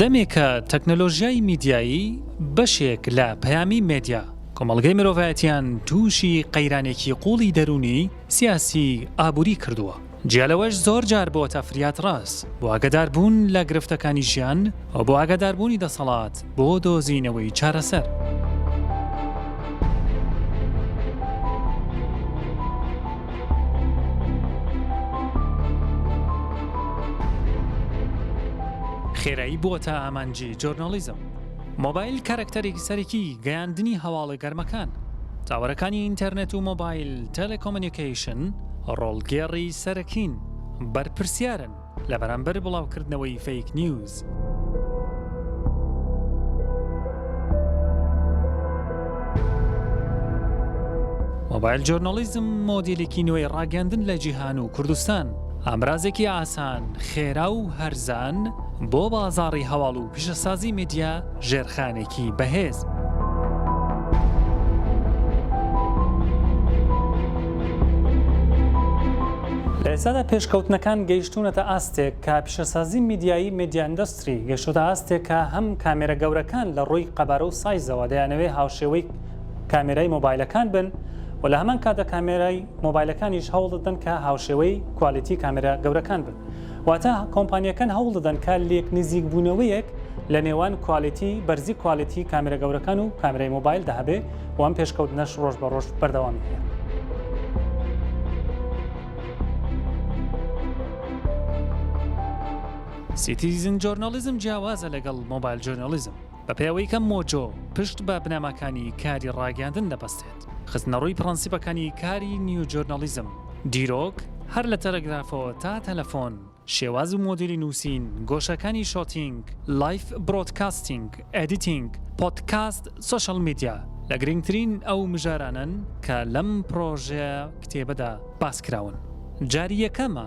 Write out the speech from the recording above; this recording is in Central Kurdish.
دەمێکە تەکنەلۆژیای میدیایی بەشێک لە پەیامی مدیا کۆمەڵگەی مرۆڤایەتیان تووشی قەیرانێکی قوڵی دەروونی سیاسی ئابووری کردووە جیا لەوەش زۆر جار بۆتە فریادڕەس بۆ ئاگەدار بوون لە گرفتەکانی ژیان و بۆ ئاگەدار بوونی دەسەڵات بۆ دۆزینەوەی چارەسەر. خێرایی بۆتە ئامانجی جۆرناڵیزم. مۆبایل کارەکتەرێکی سەرەکی گەیاندنی هەواڵە گەرمەکان. تاوەرەکانی ئینتەرنێت و مۆبایل تێلێکۆمۆنیکەیشن ڕۆڵگێڕی سەرەکین، بەرپرسیارن لە بەرامبەر بڵاوکردنەوەی فەیک نیوز. مۆبایل جۆرناڵیزم مۆدێلێکی نوێی ڕاگەیاندن لە جیهان و کوردستان، ئامرازێکی ئاسان، خێرا و هەرزان، بۆ بازاڕی هەواڵ و پیشەسازی میدیا ژێرخانێکی بەهێز. لە ئێستادا پێشکەوتنەکان گەیشتوونەتە ئاستێک کە پیشەسازی میدیایی میدیا ئیندەستری گەشتوتە ئاستێک کە هەم کامێرە گەورەکان لە ڕووی قەبارە و سایزەوە دەیانەوێ هاوشێوەی کامێرای مۆبایلەکان بن و لە هەمان کاتدا کامێرای مۆبایلەکانیش هەوڵ دەدەن کە هاوشێوەی کوالیتی کامێرا گەورەکان بن واتە کۆمپانیەکان هەوڵ دەدەن کە لێک نزیک بوونەوەیەک لە نێوان کوالێتی بەرزی کوالێتی کامێرە گەورەکان و کامێرای مۆبایل دا هەبێ و ئەم پێشکەوتنەش ڕۆژ بە ڕۆژ بەردەوامی هەیە. سیتیزن جۆرناڵیزم جیاوازە لەگەڵ مۆبایل جۆرناڵیزم. بە پێوەی کە مۆجۆ پشت بە بنەماکانی کاری ڕاگەیاندن دەبەستێت، خستنەڕووی پڕەنسیپەکانی کاری نیوجۆرناڵیزم، دیرۆک، هەر لە تەلەگرافەوە تا تەلەفۆن، شێواز و مۆدیلی نووسین، گۆشەکانی شۆتینگ، لایف برۆدکاستینگ، ئێدیتینگ، پۆدکاست، سۆشیال میدیا، لە گرنگترین ئەو مژارانەن کە لەم پڕۆژە کتێبەدا باس کراون. جاری یەکەمە.